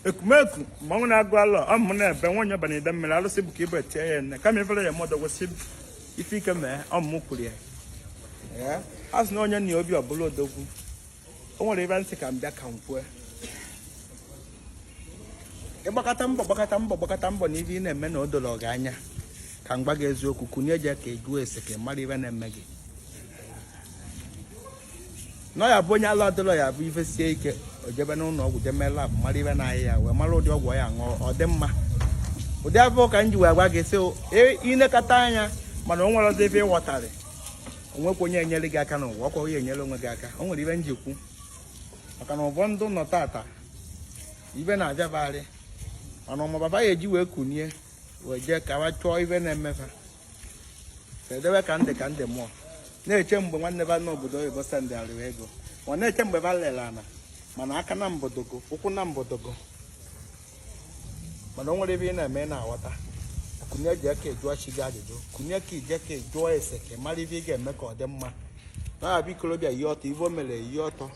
ekumeku mmanwụ na-agụ alọ ọ mụ na-ebe nwa onye bana ide mmiri alụsị bụ ka ibe tie ya nne kama ifere ya mmadụ gwụsị ife ike mee ọ mụ kwuru ya Ee, a sị na onye nna ya obi ọbụla odogwu o nwere ebe ntị ka m bịa ka m kwue ịgbakọta mbọ gbakọta mbọ gbakọta mbọ na ife ị na-eme na o doro gị anya ka m gwa gị eziokwu kunie je ka ị jụọ ese ka ị mara ife na-eme gị na ya bụ onye alụ adịlọ ya bụ ife sie ike o jebe n'ụlọ ọgwụ jee mee lab mara ife na-arịa ya wee mara ụdị ọgwụ ya ṅụọ ọ dị mma ụdị afụ ka m ji wee gwa gị sị ịnekọta anya mana o nwere ọzọ ife ịghọtarị o nwekwa onye enyere gị aka n'ụwa ọkwa onye enyere onwe gị aka o nwere ife m ji kwu maka na ụfọdụ nọ tata ife na-abịabagharị mana ọmụ baba ya eji wee kunie wee jee ka wa chọọ ife na-eme fa edewe ka ndị ka ndị mmụọ na-eche mgbe nwanne ba nọ obodo oyibo sendịara wa ego ọ na-eche mgbe ba lere ana mana aka na mbodogo ụkwụ na mbodogo mana o nwere ife ị na-eme na-aghọta kunie je ka ị jụọ chi gị ajụjụ kunie ka i je ka ị jụọ ese ka ị mara ife ị ga-eme ka ọ dị mma na-abịa ikorobịa yi ọtọ ife o mere yi ọtọ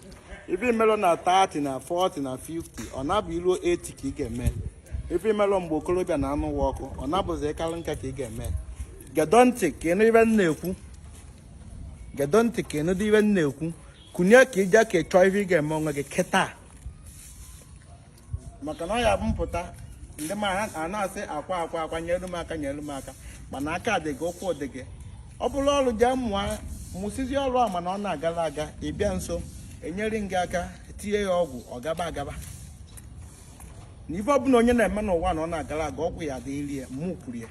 ife i melọ na 30 na 40 na 50 ọ na-abụ i ruo 80 ka ị ga-eme ife i melọ mgbe okorobịa na-anụ ụwa ọkụ ọ na-abụzi ị kalụ nka ka ị ga-eme gedo ntị ka ị nụ ife m na-ekwu gedo ntị ka ị nụ dị ife m na-ekwu kunie ka i je ka ị chọọ ife ị ga-eme onwe gị kịta maka na ọ ya bụ mpụta ndị ma a na-asị akwa akwa akwa nyelu m aka nyelu m aka mana aka dị gị ụkwụ dị gị ọ bụrụ ọrụ jee mụọ mụsizi ọrụ a mana ọ na-agala aga ị bịa nso e nyere gị aka tinye ya ọgwụ ọ gaba agaba na ife ọbụla onye na-eme n'ụwa na ọ na-agara aga ọgwụ ya dịrị ya mụ kwuru ya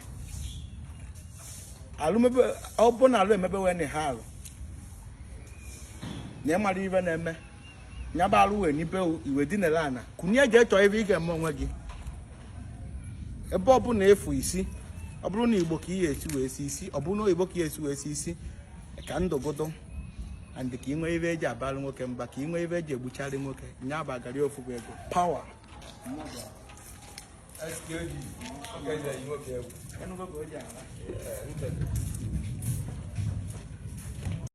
ọ bụ na alụ emebe wee na ha alụ na ị mara ife na-eme nyaba alụ wee n'ibe iwe dinere ana kunie je chọọ ife ị ga-eme onwe gị ebe ọbụla efu isi ọ bụrụ na igbo ka ihe esi wee si isi ọ bụrụ na oyibo ka ihe esi wee si isi ka ndụgodo and ka ị nwee ife e ji abalụ nwoke mba ka ị nwee ife e ji egbucharị nwoke nya bụ agari ofu bụ ego pawa Enugu ka o ji ala